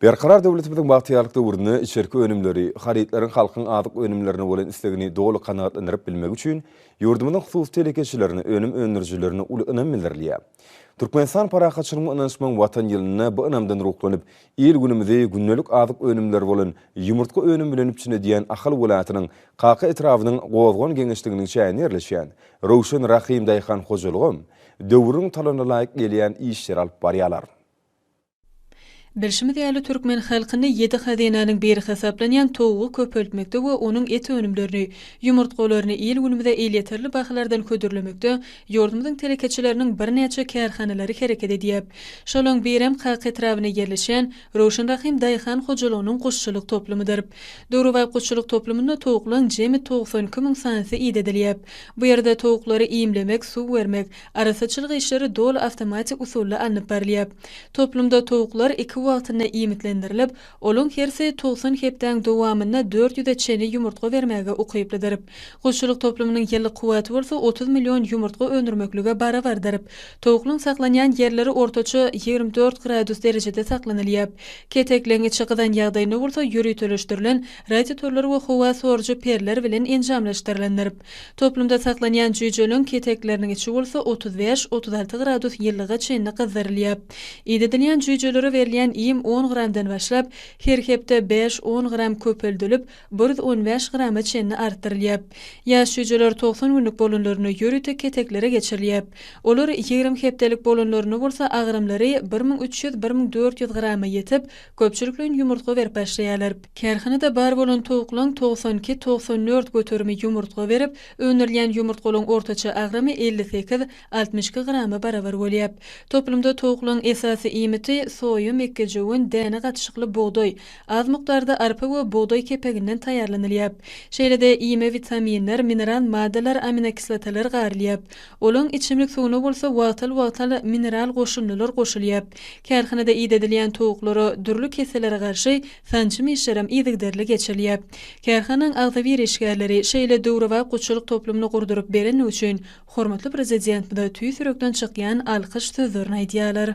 Berkarar döwletimiziň bagtyýarlyk döwründe içerki önümleri, harytlaryň halkyň azyk önümlerine bolan islegini doly kanagatlandyryp bilmegi üçin ýurdumyzyň hususy telekeçilerine, önüm öndürijilerine uly ynam bildirilýär. Türkmenistan parahatçylygyň we ynanyşmagyň Watan ýylynda bu ynamdan ruhlanyp, il-günümizi gündelik azyk önümleri bolan ýumurtga önümi bilen üpjün edýän Ahal welaýatynyň Kaka etrabynyň Gozgan geňeşliginiň çäginde ýerleşýän Röwşen Rahym daýhan hojalygam döwrüň talabyna laýyk gelýän işleri alyp barýarlar. Bilşimiz ýaly, türkmen halkyny ýedi hazynanyň biri hasaplanýan towugy köpeltmekde we onuň et önümlerini, ýumurtgalaryny il-günümize elýeterli bahalardan hödürlemekde ýurdumyzyň telekeçileriniň birnäçe kärhanalary hereket edýär. Şolaň birem Kaka etrabynda ýerleşýän Röwşen Rahym daýhan hojalygynyň guşçulyk toplumydyr. Döwrebap guşçulyk toplumynda towuklaryň jemi togsan iki müň sanysy idedilýär. Bu ýerde towuklary iýmlemek, suw bermek, Arassaçylyk işleri doly awtomatik usulda alnyp barylýar. Toplumda towuklar iki wagtynda iýmitlendirilip, olaň hersi togsan hepdäň dowamynda dört ýüze çenli ýumurtga bermäge ukyplydyr. Guşçulyk toplumynyň ýyllyk kuwwaty bolsa otuz million ýumurtga öndürmeklige barabardyr. Towuklyň saklanýan ýerleri ortaça ýigrimi dört gradus derejede saklanylýar. Ketek leňňeçi gyzan ýagdaýynda bolsa ýöriteleşdirilen radiotorlar we howa sorujy perler bilen enjamlaşdyrylandyr. Toplumda saklanýan jüýjeleriň ketekleriniň içi bolsa otuz bäş, otuz alty gradus ýylylyga çenli gyzdyrylýar. Idedilýän jüýjelere berilýän iým on gramdan başlap, her hepde bäş, on gram köpeldilip, bir ýüz on bäş grama çenli artdyrylýar. Ýaş jüýjeler togsan günlük bolanlarynda ýörite keteklere geçirilýär. Olar ýigrimi hepdelik bolanlarynda bolsa agramlary bir müň üç ýüz, bir müň dört ýüz grama ýetip, Köpçülikleýin ýumurtga berip başlaýarlar. Kärhanada bar bolan towuklaryň togsan iki, togsan dört göterimi ýumurtga berip, öndürilýän ýumurtgalaryň ortaça agramy elli sekiz, altmyş iki grama barabar bolýar. Toplumda towuklaryň esasy iýmiti, soýa, mekgejöwen, däne gatyşykly bugdaý, az mukdarda arpa we bugdaý kepeginden taýýarlanylýar. Şeýle-de iýme witaminler, mineral maddalar, aminokislotalar garylýar. Olaň içimlik suwuna bolsa wagtal-wagtal mineral goşundylar goşulýar. Kärhanada idedilýän towuklara dürli kesellere garşy sanjym işlerem yzygiderli geçirilýär. Kärhanaň agzybir işgärleri şeýle döwrebap gutçulyk toplumyny gurduryp berenligi üçin hormatly Prezidentimize tüýs ýürekden çykýan alkyş sözlerini aýdýarlar.